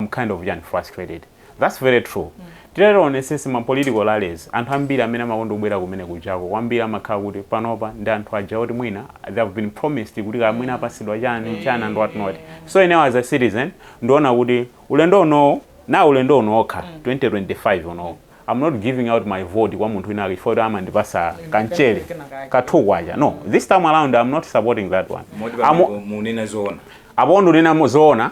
some kind of chani frustrated that's very true tiyeni tionesese ma political rallies anthu ambiri amene amakonda kubwera kumene kujako kwambiri amakhala kuti panopa ndi anthu aja oti mwina they have been promised kuti kaya mwina apasidwa chani chani and what not so inewo as a citizen ndiona kuti ulendo unowo ulendo uno okha 2025 unowo I'm not giving out my vote kwa munthu wina chifukwa kuti amandipasa ka ten thousand kwacha no this time around I'm not supporting that one Moti pamene munena zoona apo ndunena zoona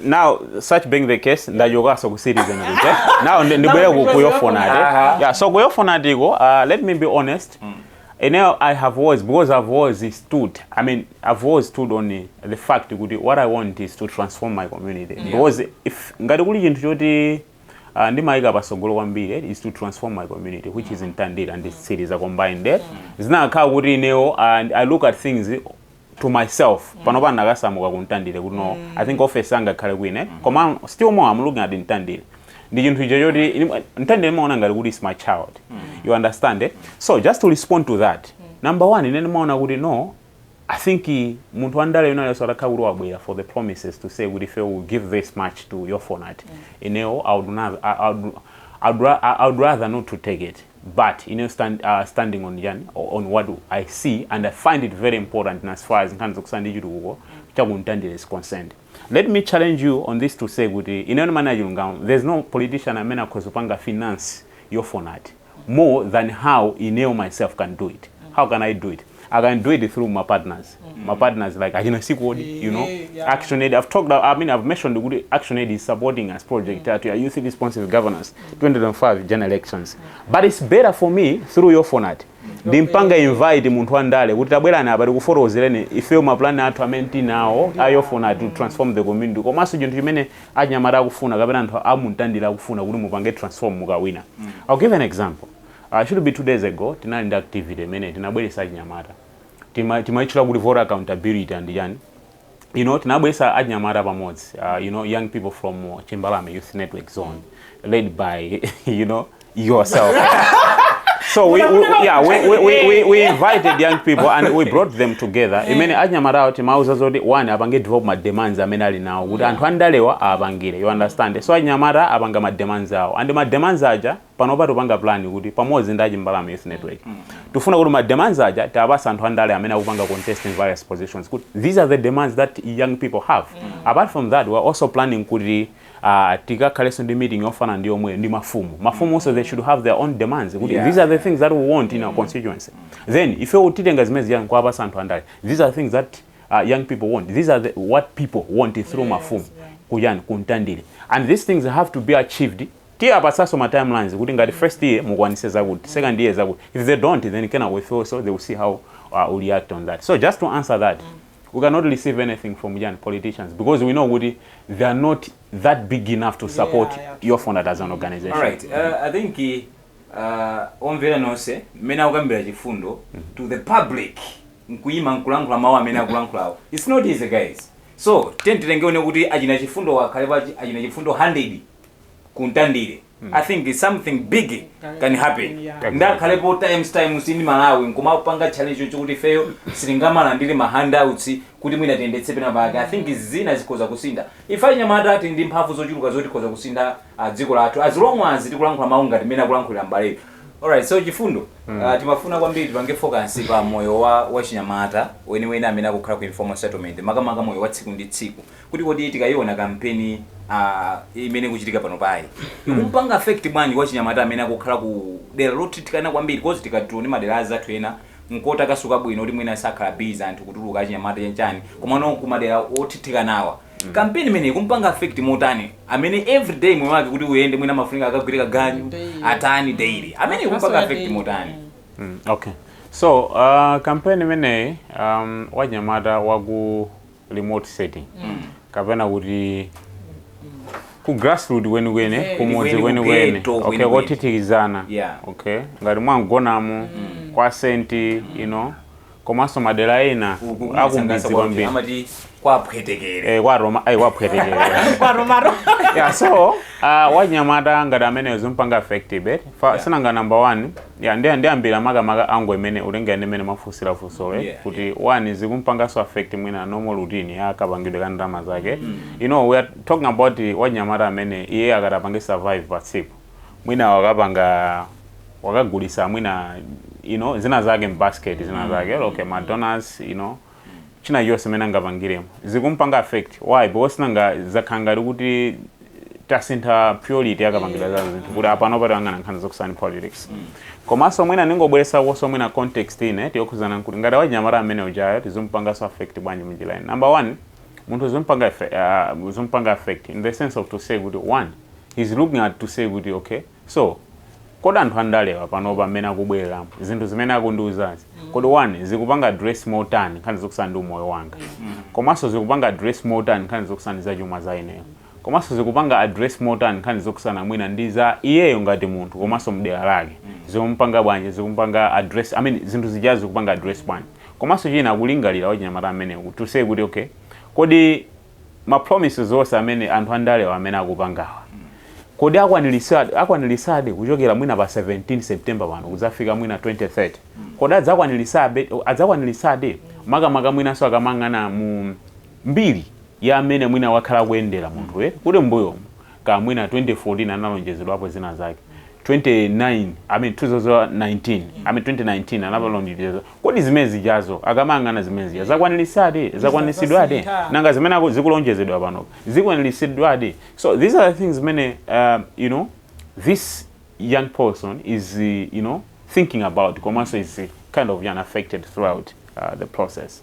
now such being the case ndachokaso ku citizen kuja now ndi- ndibwere ku- ku YOFONAT Aha. yeah so ku YOFONAT-ko uh, let me be honest ineyo i have always because i've always stood i mean i've always stood on eh, the fact kuti what i want is to transform my community because if ngati kuli chinthu choti uh, ndimayika pasogolo kwambiri eh, is to transform my community which is Mtandire ndi Mtsiliza are combined there zinakhala kuti ineyo and i look at things to myself panopa ndinakasamuka ku mtandire kuti no i think office angakhale kwine koma still more i'm looking at mtandire ndi chinthu icho choti ini- mtandire ndimaona ngati kuti is my child you understand eh? so just to respond to that number one ine ndimaona kuti no i think eh, munthu wandale olo atakhala kuti wabwera for the promises to say kuti ife will give this much to YOFONAT inewo i would not- I- I would- I would ra- I- I would rather not to take it but ineyo stand, uh, standing on chani on what i see and i find it very important as far as nkhani zokusana ndi chitukuko chakuntandire is concerned let me challenge you on this to say kuti ineyo ndimane achilungamo there's no politician amene akhoza kupanga finance yofonati more than how ineyo myself can do it how can i do it I can do it through my partners. Mm. My partners like I can see code, you know. Yeah. Action Aid. I've talked. I mean, I've mentioned the good Action Aid is supporting us project mm. to youth responsive governance, mm. 2005 general elections. Mm. But it's better for me through your phone at. ndimpanga invite munthu wandale kuti tabwerani apa tikufotokozereni ifeyo mapulani athu amene tinawo ayofuna to transform the community komanso chinthu chimene anyamata akufuna kapena anthu amumtandira akufuna kuti mupange transform mukawina mm. i'll give an example should be 2 days ago tinali ndi activity imene tinabweretsa achinyamata tima timaitchula kuti voter accountability and chani you know tinabweretsa achinyamata pamodzi uh, you know young people from uh, Chimbalame Youth Network Zone led by you know yourself so we, we yeah we, we, we, we, we invited young people and we brought them together imene achinyamata awo timauza zoti iwowo apange develop ma demands amene ali nawo kuti anthu andalewa apangire you understand so achinyamata apanga ma demands awo and ma demands aja panopa tupanga plan kuti pamodzi ndi achimbalame youth network tufuna kuti ma demands aja tiapase anthu andale amene akupanga contest in various positions kuti these are the demands that young people have apart from that we are also planning kuti uh, tikakhalenso ndi meeting yofanana ndi yomwe ndi mafumu mafumu also they should have their own demands kuti Yeah. these are the things that we want in our constituency then ifeyo titenga zimene ziyani kuapasa anthu andale these are things that uh, young people want these are the, what people want through mafumu ku chani ku Mtandire and these things have to be achieved Tiapatsanso ma timelines kuti ngati first year mukwanitse zakuti, second year zakuti, if they don't then kenako ifeyonso they will see how we react on that. So just to answer that, we cannot receive anything from chani, politicians because we know kuti they are not that big enough to support Yeah, yeah, true. YOFONAT as an organization. Alright, uh, I think uh, omvera nonse mmene akukambira Chifundo to the public nkuyima nkulankhula mawu amene akulankhulawo its not easy guys so tiyeni tione kuti achina Chifundo akhale pa achina Chifundo 100 ku ntandire i think something big can happen ndakhalepo Times times ndi Malawi nkumapanga challenge choncho kuti ifeyo sitingamalandire ma handouts kuti mwina tiyendetse pena pake i think izi zina zikhoza kusintha ife anyamata tili ndi mphamvu zochuluka zoti tikhoza kusintha ah, dziko lathu as long as tikulankhula mawu ngati mmene akulankhulira mbaleyo alright so chifundo ah, timafuna kwambiri tipange focus pa moyo wa wachinyamata weniweni amene akukhala ku informal settlement makamaka moyo wa tsiku ndi tsiku kuti kodi tikayiona kampeni uh, imene ikuchitika panopayi ikumpanga affect bwanji wachinyamata amene akukhala ku dera lothithikana kwambiri because tikationa madera azathu ena nkotakasuka bwino kuti mwina sakhala busy anthu kutuluka achinyamata chanchani komano ku madera othithikanawa kampeni imene ikumpanga affect motani amene every day moyo wake kuti uyende mwina amafunika akagwire kaganyu Daily. atani daily amene ikumpanga affect Daily. motani Mm, okay so uh, kampeni imeneyi um, wachinyamata waku remote setting kapena kuti ku grassroot kwenikweni Eh. kumudzi Kwenikweni, kwenikweni kughetto okay kwenikweni. kothithikizana Yeah. okay ngati mwa Mgonamo kwa Senti you know komanso madera ena akumidzi kwambiri amati kwaphwetekere Eh, kwa Roma ayi kwaphwetekere kwatomaro yeah so uh, wanyamata ngati ameneyo zikumpanga affect eh? Fa- si nanga number one Yeah, nde ndiyambira makamaka angle imene kutengera ndi mmene mwafunsira funsolo eh, Yeah, kuti one zikumpanganso affect mwina normal routine ya kapangidwe ka ndalama zake you know we are talking about wanyamata amene iye akati apange survive pa tsiku mwina wakapanga wakagulisa mwina you know zina zake mbasket zina zake okay ma doughnuts you know chinachonse mmene angapangiremo zikumpanga affect why because nanga zakhala ngati kuti tasintha priority ya kapangidwe ka zinthu kuti apano akuyang'ana nkhani zokhudzana ndi politics komanso mwina ndingobweretsakonso mwina context ina ndi yokhudzana nkuti ngati wachinyamata amene ujayo zizimpanganso affect bwanji munjira ina number one munthu zimpanga affe- ah, zimpanga affect in the sense of to say kuti one he's looking at to say kuti okay So, kodi anthu andalewa panopa mmene akubwereramu, zinthu zimene akundiuzazi, kodi one, zikupanga address motani nkhani zokhudzana ndi umoyo wanga? Komanso zikupanga address motani nkhani zokhudzana ndi zachuma za ineyo? Komanso zikupanga address motani nkhani zokhudzana mwina ndi za iyeyo ngati munthu komanso m'dera lake? Zikumupanga bwanji, zikumupanga address, I mean zinthu zijazi zikupanga address bwanji? Komanso china akulingalira wachinyamata ameneyu to say kuti okay, kodi. ma promises onse amene anthu andalewa amene akupangawa kodi akwanilitsadi akwanilitsadi kuchokera mwina pa 17 September pano kudzafika mwina 2030 kodi adzakwanilitsabe adzakwanilitsadi makamaka mwinanso akamayang'ana mu mbiri ya amene mwina wakhala akuyendera munthuyi kuli m'mbuyomu kaya mwina 2014 analonjezedwapo zina zake 29 I mean 2019 I mean 2019 analonjeza kodi zimene zijazo akamayang'ana zimene zija zakwanilisadi zakwanilisidwadi Zasintha. nanga zimene aku- zikulonjezedwa pano zikwanilisidwadi so these are the things zimene um, you know this young person is uh, you know thinking about komanso is uh, kind of yani affected throughout uh, the process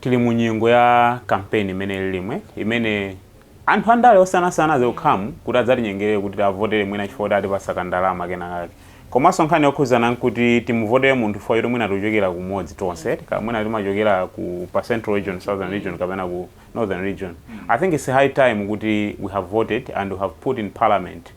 Tili mu nyengo ya campaign imene ilirimwe imene anthu andale osiyanasiyana akukhamukira kuti adzatinyengere kuti tiwavotere mwina chifukwa choti atipatsa ka ndalama kena kake komanso nkhani yokhudzana nkuti timuvotere munthu chifukwa choti mwina timachokera kumodzi tonse kaya mwina timachokera ku pa central region, southern region kapena ku northern region. I think it's high time kuti we have voted and we have put in parliament.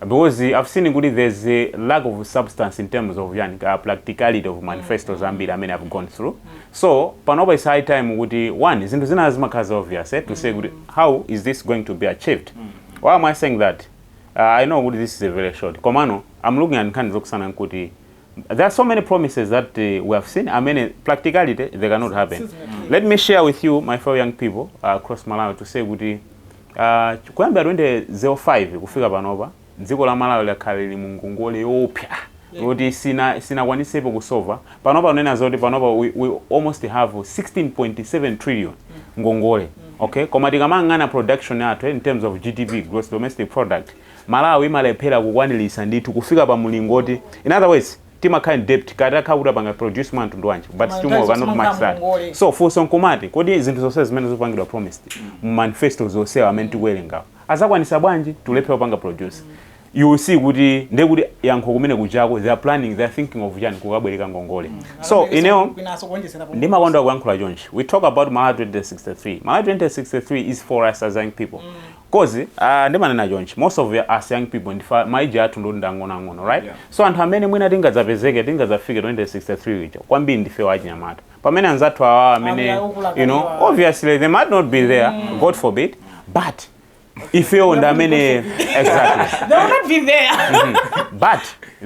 because i've seen kuti there's a lack of substance in terms of yani ka practicality of manifestos ambiri amene i've gone through so panopa it's high time kuti one zinthu zina zimakhala za obvious eh, to say kuti how is this going to be achieved why am i saying that uh, i know kuti this is a very short komano i'm looking at nkhani zokusana nkuti there are so many promises that uh, we have seen i mean practicality they cannot happen let me share with you my fellow young people uh, across malawi to say kuti Kuyambira 2005 kufika panopa, dziko la Malawi lakhala lili mu ngongole yoopsa yoti silinakwanisepo kusova. Panopa kunena zoti panopa we we almost have 16.7 trillion ngongole okay koma tikamayang'ana production yathu in terms of GDP, Gross Domestic Product, Malawi imalephera kukwanilitsa ndithu kufika pa mulingo oti in other words, timakhala in debt kaya titakhala kuti tapanga produce ya mtundu wanji but still more cannot match that so funso nkumati kodi zinthu zonse zimene zikupangidwa promised mu manifesto onsewa amene tikuwerengawo azakwanisa bwanji tulephera kupanga produce you will see kuti ndiye kuti yankho lomwe kujako they are planning they are thinking of chani kukabwereka ngongole so ineyo ndimakonda kuyankhula chonchi we talk about malawi 2063 malawi 2063 is for us as young people coz aah ndimanena chonchi most of us young people nde ma age athu ndikuti ndi ang'ono ang'ono right Yeah. so anthu amene mwina tingadzapezeke tingadzafike 2063 ija kwambiri ndifewo achinyamata pamene anzathu awa amene Amene akukula you know kaliwa. obviously they might not be there god forbid but ifewo ndi amene exactly They will not be there. but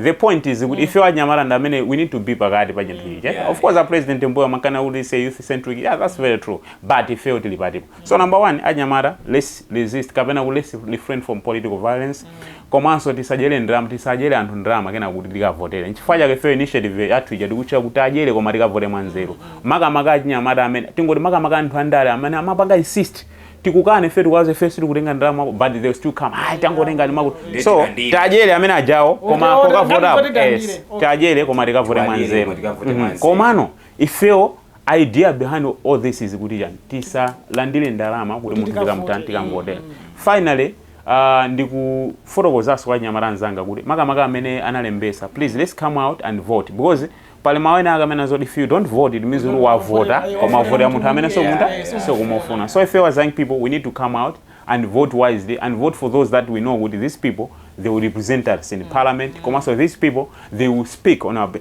the point is kuti ifewo achinyamata ndi amene we need to be pakati pa chinthu ichi Yeah. of course a president mbuyomu akanakuti it's a youth centric yeah that's very true but ifewo tili patipo So number one achinyamata let's resist kapena ku let's refrain from political violence komanso tisadyere ndalama tisadyere anthu ndalama kenako tikavotere nchifukwa chake fe initiative yathu ija tikutchula kuti tiadyere koma tikavote mwanzeru makamaka achinyamata amene tingoti makamaka anthu andale amene amapanga insist tikukane fe tikuwauza fe sitikutenga ndalama zako, but they will still come ayi tangotengani makuti Ndiye so tikandire. tiadyere amene ajawo koma Ote- ote- kokavotapo ndamva tikandire. yes Okay. tiadyere koma tikavote Tiwadyere, mwanzeru koma tikavote Mhm. mwanzeru. komano ifewo Idea behind all this is kuti chani tisalandile ndalama kuti munthu tikamutani tikamuvotela. Finally aah ndikufotokozaso kwa achinyamata anzanga kuti makamaka amene analembesa please let's come out and vote because pali mau ena ake amanena zoti if you don't vote it means kuti wavota koma wavotela munthu amene sukumutani sukumufuna so ifeyo as young people we need to come out and vote wisely and vote for those that we know kuti these people they will represent us in parliament komaso these people they will speak on our be.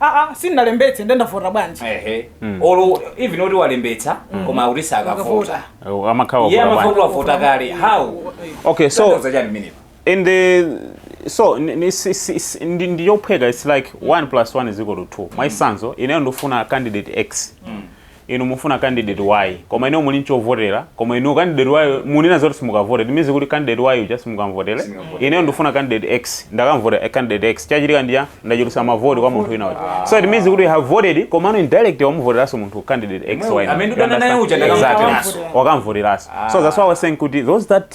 aa sindinalembetse nde ndavota bwanji ehe or even oti walembetsa koma kuti sakavota Akavota. amakhawa iye amakhala kuti wavota kale how okay so Tanthauza chani minipo and the so ni- ni- si- si- si- ndi ndi yophweka it's like 1 plus 1 is equal to 2 mwachitsanzo ineyo ndifuna candidate x Inu mufuna candidate y koma inuyo muli nchovotera koma inuyo candidate y munena zoti simukavota it means kuti candidate y uja simukamvotera ineyo ndikufuna candidate X ndakamvotera candidate X chachitika ndi chani ndachulutsa ma vote kwa munthu wina uja so it means kuti you have voted komano indirectly wamuvoteranso munthu candidate X Yemwe- y amene umadana naye uja understand? ndakamvoteranso. Exactly. wakamvoteranso so that's why I was saying kuti those that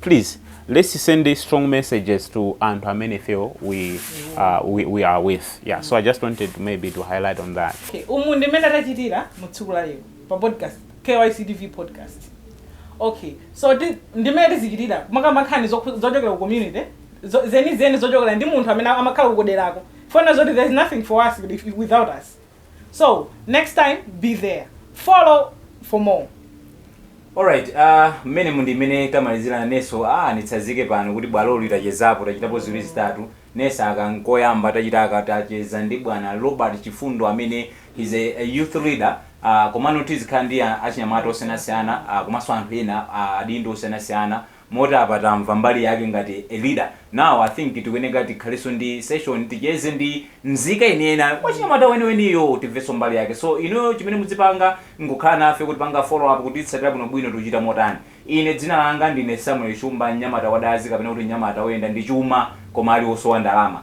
please let's send strong messages to anthu amene ifewo we, uh, we, we are with yeah so i just wanted maybe to highlight on that Okay, umu ndi mmene tachitira mu tsiku la lero pa podcast kyctv podcast okay so ti- ndi mmene tizichitira kumakamba nkhani zokhu- zochokera ku community zo- zenizeni zochokera kwa munthu amene amakhala kuderako kuona zoti there's nothing for us if- if- without us so next time be there follow for more Alright, uh, mmene umu ndi mmene tamalizira neso ah, nditsazike pano kuti bwaloli tachezapo tachitapo ziwiri zitatu neso aka nkoyamba tachita aka tacheza ndi bwana Robert Chifundo amene is a, a youth leader uh, komano tizikhala ndi a- achinyamata osiyanasiyana uh, komanso anthu ena uh, adindo osiyanasiyana moti apa tamva mbali yake ngati a leader now i think tikuyeneka tikhaleso ndi session ticheze ndi mzika yeniyeni wachinyamata weniweniyo timveso mbali yake so inuyo chimene mudzipanga nkukhala nafe kutipanga follow up kutitsatira bwinobwino tikuchita motani ine dzina langa ndine samuel shumba mnyamata wadazi kapena kuti mnyamata oyenda ndi chuma koma ali osowa ndalama